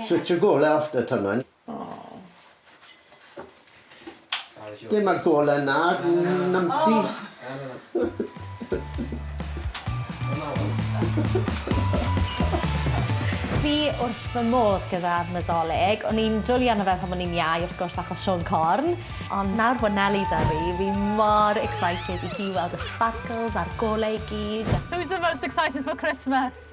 Switch y golau off da Twnon. Dim ar golau na numpty. Fi wrth fy modd gyda Nadolig. O'n i'n dwli arno fe pan o'n i'n iau wrth gwrs achos Siôn Corn. Ond nawr bod Neli 'da fi, fi mor excited i hi weld y sparkles a'r golau i gyd. Who's the most excited for Christmas?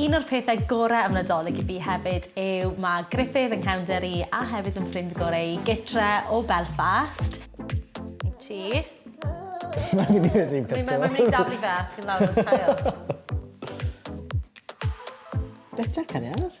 Un o'r pethau gorau am Nadolig i fi hefyd yw mae Gruffydd yn cefnder i a hefyd yn ffrind gorau i gytre o Belfast. I ti. Mae'n mynd i'r un peth Mae'n mynd i daflu fe ac yn lawr o'r cael. Beta cariad.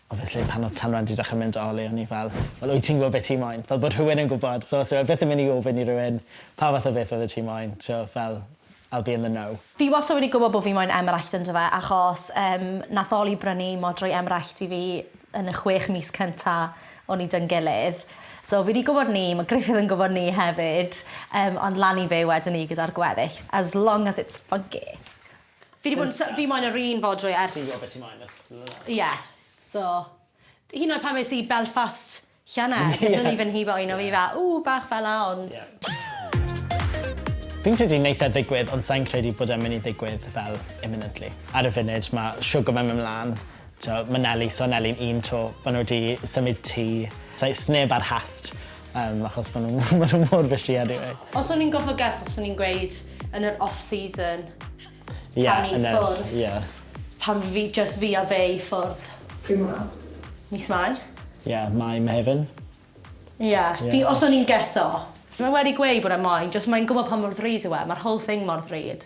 Obviously pan odd Tanwen 'di dechre mynd Oli o'n i fel wel wyt ti'n gwbod be' ti moyn? Fel bod rhywun yn gwbod so os yw e byth yn myn' i ofyn i rywun pa fath o beth odde ti moyn t'wo' fel I'll be in the know. Fi wastad wedi gwbod bo' fi moyn emyraillt yndo fe achos yym nath Oli brynu modrwy emyraillt i fi yn y chwech mis cynta o'n i 'dy'n gilydd so fi 'di gwbod 'ny ma' Gruffydd yn gwbod 'ny hefyd yym ond lan i fe wedwn i gyda'r gweddill as long as it's funky. Fi 'di bod yn sy- fi moyn yr un fodrwy ers... Ti'n gwbo be' ti moyn ers blynyddoedd nawr. Ie. So. Hyd yn oed pan es i Belfast llynedd... Ie. ...nethon ni fyn' hibo un o fi fel ww bach fela ond... Ie. Fi'n credu neith e ddigwydd ond sai'n credu bod e'n myn' i ddigwydd fel imminently. Ar y funud ma' Sugar Mum yn myn' mlan t'o' ma' Neli so Neli'n un 'to ma' n'w 'di symud tŷ sai- sneb ar Hast Yym achos ma' nhw ma' nhw mor fishy anyway. Os o'n i'n gorfod guess fyswn i'n gweud yn yr off season Ie pan ni yn yr ffwrdd. ie. Pan fi jyst fi a fe i ffwrdd. Pryd mor hawdd? Mis Mai. Ie Mai Mehefin. Ie Ie. fi os o'n i'n geso. Fi wedi gweud bod e moyn jyst moyn gwbo pa mor ddrud yw e ma'r whole thing mor ddrud.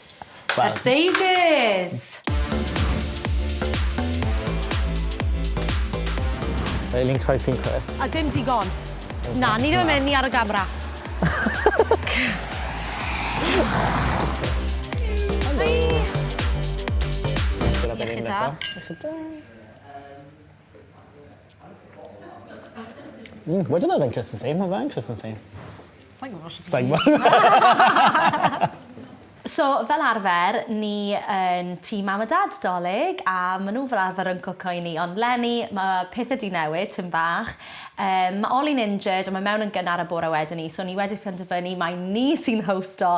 Ers ages! Fel un croes un cwe. A dim digon. Na, ni ddim yn mynd, ni ar y gamera. Helo. Iechyd da. Iechyd da. Mm, wedyn oedd e'n Christmassy. Mae fe'n Christmassy. Sa'n gwybod sut Sa'n gwybod. so, fel arfer, ni yn tî mam a dad dolyg, a maen nhw fel arfer yn cwco i ni. Ond Lenny, mae pethau di newid, tyn bach. Um, mae Oli'n injured, a mae mewn yn gynnar y bore wedyn ni, so ni wedi penderfynu mae ni sy'n hosto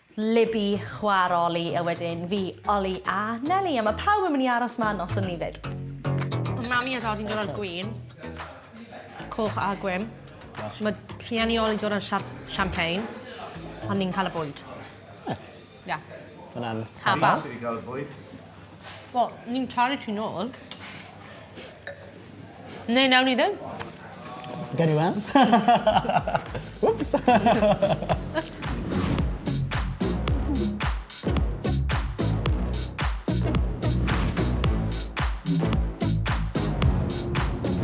Libby chwa'r Oli a wedyn fi, Oli a Neli a ma' pawb yn myn' i aros 'ma noson ni 'fyd. Ma' Mami a Dadi'n dod â'r gwin. Coch a gwin. Ma' rhieni Oli'n dod â'r siar- champagne a ni'n ca'l y bwyd. Neis. Ie. Ma' wnna'n... Hafal. Ti 'di ca'l y bwyd? Wel, ni'n talu ti nôl. Neu nawn ni ddim. Gawn ni weld. Wps!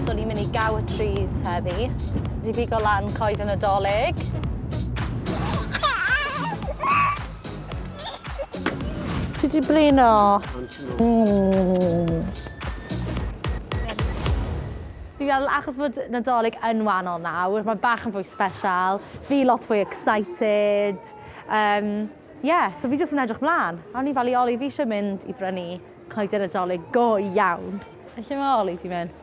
so ni'n mynd i gaw y trees heddi. Di bigo lan coed y Nadolig. Ti di blino? Mm. Fi fel, achos bod Nadolig yn wahanol nawr, mae bach yn fwy special, fi lot fwy excited. Um, yeah, so fi jyst yn edrych mlaen. A o'n i fel i Oli, fi eisiau mynd i brynu coeden Nadolig go iawn. Felly mae Oli ti'n mynd?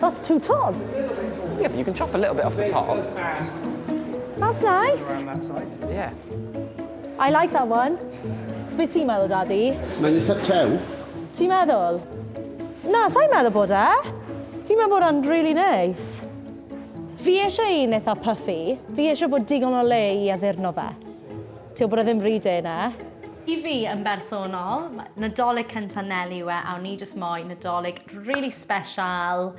That's too tall. Yeah, but you can chop a little bit off the top. That's nice. Yeah. I like that one. Be ti'n meddwl, Daddy? Mae'n eitha tew. Ti'n meddwl? Na, sa'n meddwl bod e. Fi'n meddwl bod o'n really nice. Fi eisiau un eitha puffy. Fi eisiau bod digon o le i addurno fe. Ti wbod o ddim ry de na. I fi yn bersonol, Nadolig cynta Neli yw e a o'n i jyst moyn Nadolig rili special,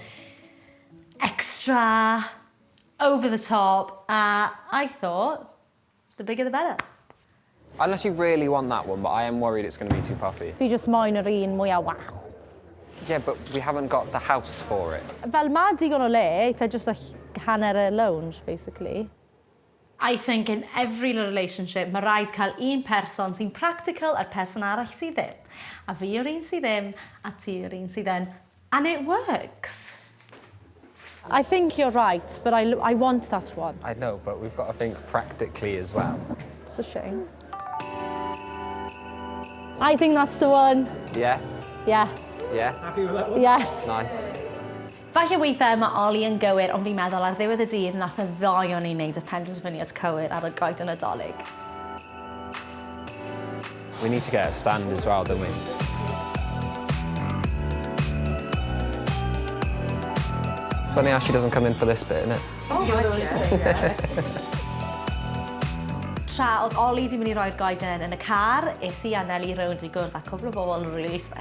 extra, over the top a I thought the bigger the better. Unless you really want that one but I am worried it's going to be too puffy. Fi jyst moyn yr un mwya waw. Yeah but we haven't got the house for it. Fel ma' digon o le eitha jyst hanner y lounge basically. I think in every relationship ma raid cael un person sy'n practical a'r person arall sydd ddim. A fi yw'r un sydd ddim a ti yw'r un sydd yn and it works. I think you're right but I I want that one. I know but we've got to think practically as well. It's a shame. I think that's the one. Yeah? Yeah. Yeah? Happy with that one? Yes. Nice. Falle weithiau ma Oli yn gywir ond fi'n meddwl ar ddiwedd y dydd nath y ddoi o ni neud y penderfyniad cywir ar y goeden Nadolig. We need to get a stand as well, don't we? Funny how she doesn't come in for this bit, innit? Oh yeah. Tra oedd Oli 'di mynd i roi'r goeden yn y car, es i a Neli rownd i gwrdd â cwpl o bobl rili sbeshal.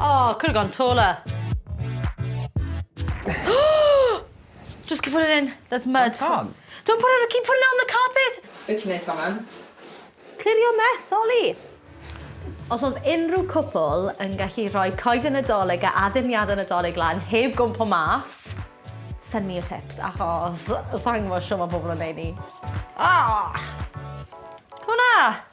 Oh, could have gone taller. Just keep putting it in. There's mud. That's on. Don't put it, keep putting it on the carpet. Be ti'n neud, Tommen? Clirio mess, Ollie. Os oes unrhyw cwpl yn gallu rhoi coed yn y doleg a addurniad yn y doleg lan heb gwmpo mas, send me your tips, achos sa'n gwybod sio mae pobl yn neud ni. Ah! Cwna!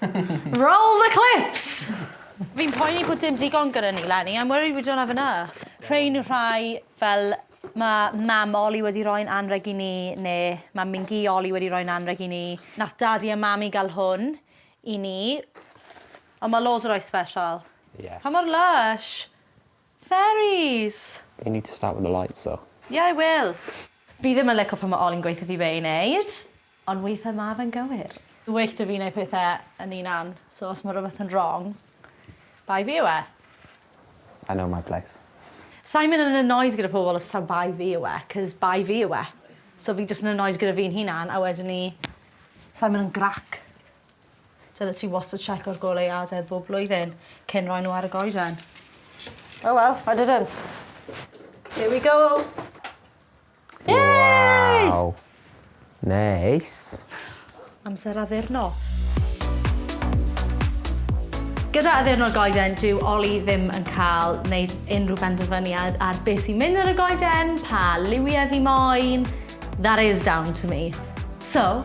Roll the clips! Fi'n poeni bod dim digon gyda ni Lenny, I'm worried we don't have enough. Rhein yw'r rhai fel ma mam Oli wedi roi'n anreg i ni ne ma mingi Oli wedi roi'n anreg i ni. Nath dadi a mami ga'l hwn i ni. Ond ma loads o rai special. Ie. Pa mor lysh! Fairies! You need to start with the lights though. Yeah I will! Fi ddim yn lico pan ma Oli'n gweutho fi be i neud, ond weithe ma fe'n gywir. Fi well da fi neud pethe yn unan, so os ma rwbeth yn wrong, bai fi yw e. I know my place. Sai'n mynd yn annoyed gyda pobl os taw bai fi yw e, 'cos bai fi yw e. So fi jyst yn annoyed gyda fi'n hunan a wedyn 'ny sai'n mynd yn grac. Dyle ti wastad checko'r goleuadau bob blwyddyn cyn roi nhw ar y goeden. Oh well, I didn't. Here we go! Yay! Waw! Neis. Amser addurno. Gyda addurno'r goeden, dyw Oli ddim yn cael wneud unrhyw benderfyniad ar beth sy'n mynd ar y goeden, pa liwiau fi moyn. That is down to me. So,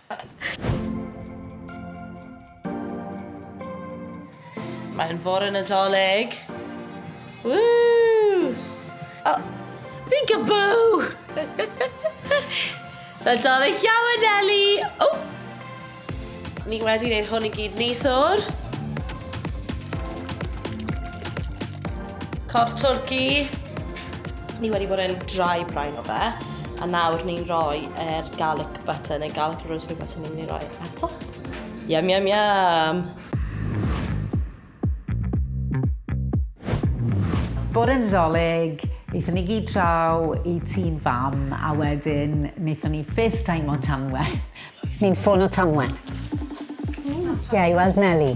Mae'n fore Nadolig. Woo! O, fi'n gaboo! Nadolig iawn, Nelly! O! Ni wedi gwneud hwn i gyd neithwr. Corff twrci. Ni wedi bod yn dry brain o fe, a nawr ni'n rhoi yr garlic Butter neu garlic and rosemary butter ni'n mynd i roi ardoch. Yum, yum, yum! Bore Nadolig, wnaethon ni gyd draw i tîn fam a wedyn wnaethon ni first time o Tanwen. Ni'n ffôn o Tanwen. Ie, yeah, i weld Nelly.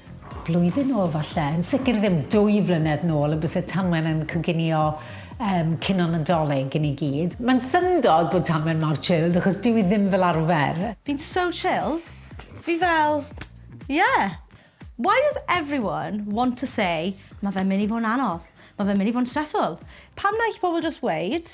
Blwyddyn nôl falle, yn sicr ddim dwy flynedd nôl y byse Tanwen yn coginio um, cino Nadolig i ni gyd. Mae'n syndod bod Tanwen mor chilled achos dyw i ddim fel arfer. Fi'n so chilled. Fi fel, yeah. Why does everyone want to say, mae fe'n mynd i fod yn anodd, mae fe'n mynd i fod yn stressful? Pam na i chi pobl just weud,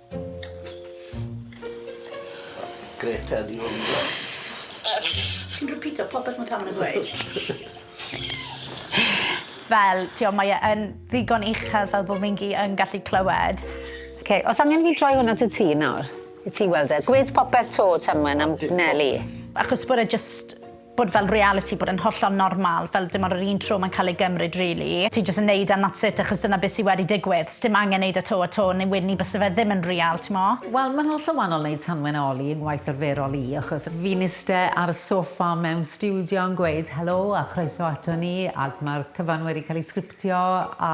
Greta ydi hwn. Ti'n repeato popeth mae Taman yn gweud? Fel, ti o, mae e yn ddigon uchel fel bod fi'n gi yn gallu clywed. OK, os angen fi droi hwn at y tŷ nawr, i ti weld e. Gwed popeth 'to, Tamwen, am Nelly. Achos bod e jyst bod fel realiti, bod e'n hollol normal, fel dim ond yr un tro mae'n cael ei gymryd rili. Ti jyst yn neud e and that's it achos dyna beth sy wedi digwydd. Sdim angen neud e to a to neu wedyn ni byse fe ddim yn real, t'mo? Wel, mae'n hollol wannol neud tanwen a oli yng ngwaith arferol i, achos fi'n iste ar y soffa mewn stiwdio yn gweud helo a chroeso ato ni, ac mae'r cyfan wedi cael ei sgriptio a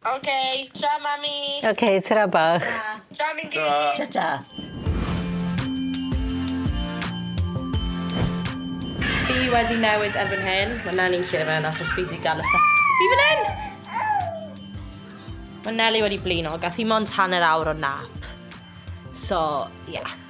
Ok, tra mami! Ok, tra bach. Tra Mindy! Ta. Ta ta. Fi wedi newid erbyn hyn. Mae Nelly'n lle fe'n achos fi wedi gael y sa... Fi fan hyn! Mae Nelly wedi blino, gath hi mond hanner awr o nap. So, ie. Yeah.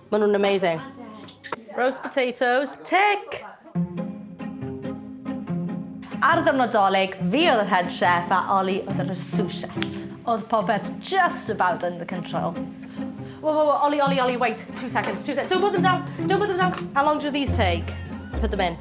Maen nhw'n amazing. Roast potatoes, tick! Ar ddiwrnod Dolig, fi oedd yr head chef a Ollie oedd yr sous chef. Oedd popeth just about under control. Whoa, whoa, whoa, Ollie, Ollie, Ollie, wait, two seconds, two seconds. Don't put them down, don't put them down. How long do these take? Put them in.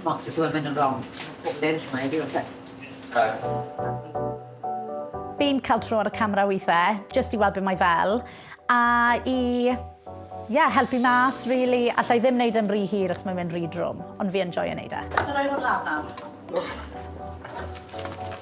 Smots is women yn wrong. Mae pob beirdd yma i fi os e. Fi'n cael tro ar y camera weithiau, jyst i weld be mae fel, a i ie, helpu mas rili. Alla i ddim wneud e'n rhy hir achos mae'n mynd rhy drwm, ond fi yn joio wneud e. Rhoi hwn lan nawr.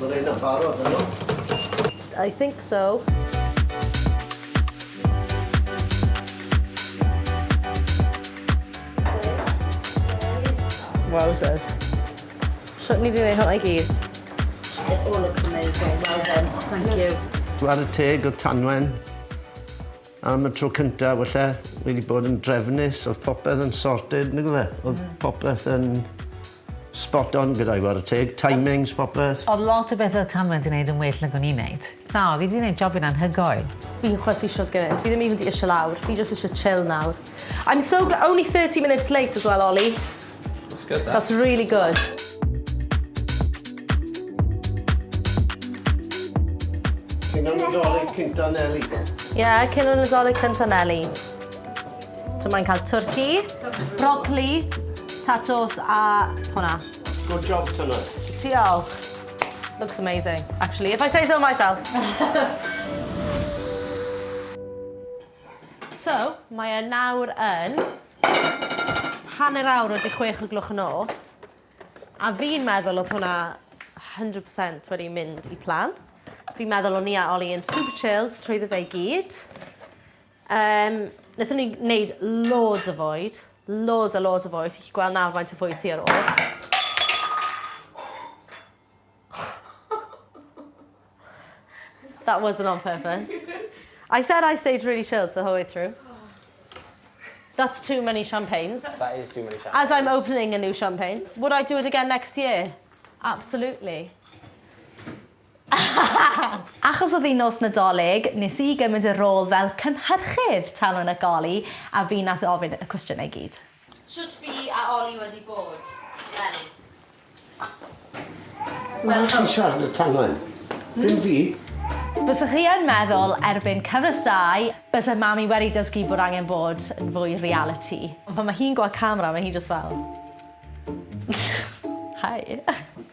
Mae'r rhain yn barod yno? I think so. Wowzers. Shwt ni wedi gwneud hwnna i gyd? It all looks amazing. Well done. Thank you. Ar y teg o Tanwen, am y tro cyntaf, wella, wedi bod yn drefnus, oedd popeth yn sorted, nid fe? Oedd mm. popeth yn Spot on gyda'i wara teg. Timings, popeth. Odd lot o bethe odd Tanu wedi neud yn well nag o'n i'n neud. Na, fi 'di neud jobyn anhygoel. Fi chwysu issues gymaint. Fi ddim even 'di ishe lawr. Fi jyst ishe chill nawr. I'm so gl- only thirty minutes late as well Oli. That's good that. That's really good. Cyn y Nadolig cynta Neli. Ie, cyn y Nadolig cynta Neli. So mae'n cael twrci, brocli, tatws a hwnna. Good job, Tyna. Diolch. Looks amazing, actually, if I say so myself. so, mae e nawr yn hanner awr wedi chwech o glwch yn os. A fi'n meddwl oedd hwnna 100% wedi mynd i plan. Fi'n meddwl o'n i a Oli yn super chilled trwy ddefa i gyd. Yym, naethon ni wneud loads o fwyd. Loads a loads o fwyd. Ti'n gallu gweld nawr faint o fwyd ti ar ôl. That wasn't on purpose. I said I stayed really chilled the whole way through. That's too many champagnes. That is too many champagnes. As I'm opening a new champagne. Would I do it again next year? Absolutely. Achos oedd hi'n nos Nadolig, nes i gymryd y rôl fel cynhyrchydd Talwrn ac Oli, a fi nath ofyn y cwestiynau i gyd. Shwt fi a Oli wedi bod? Wel. Wel ti'n siarad y Talwrn, ddim fi. Bysech chi yn meddwl erbyn cyfres dau byse Mami wedi dysgu bod angen bod yn fwy realiti. Ond pan ma hi'n gweld camera ma hi jyst fel hi.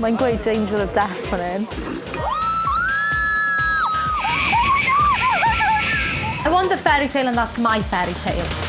Mae'n gweud danger of death fan hyn. I want the fairy tale and that's my fairy tale.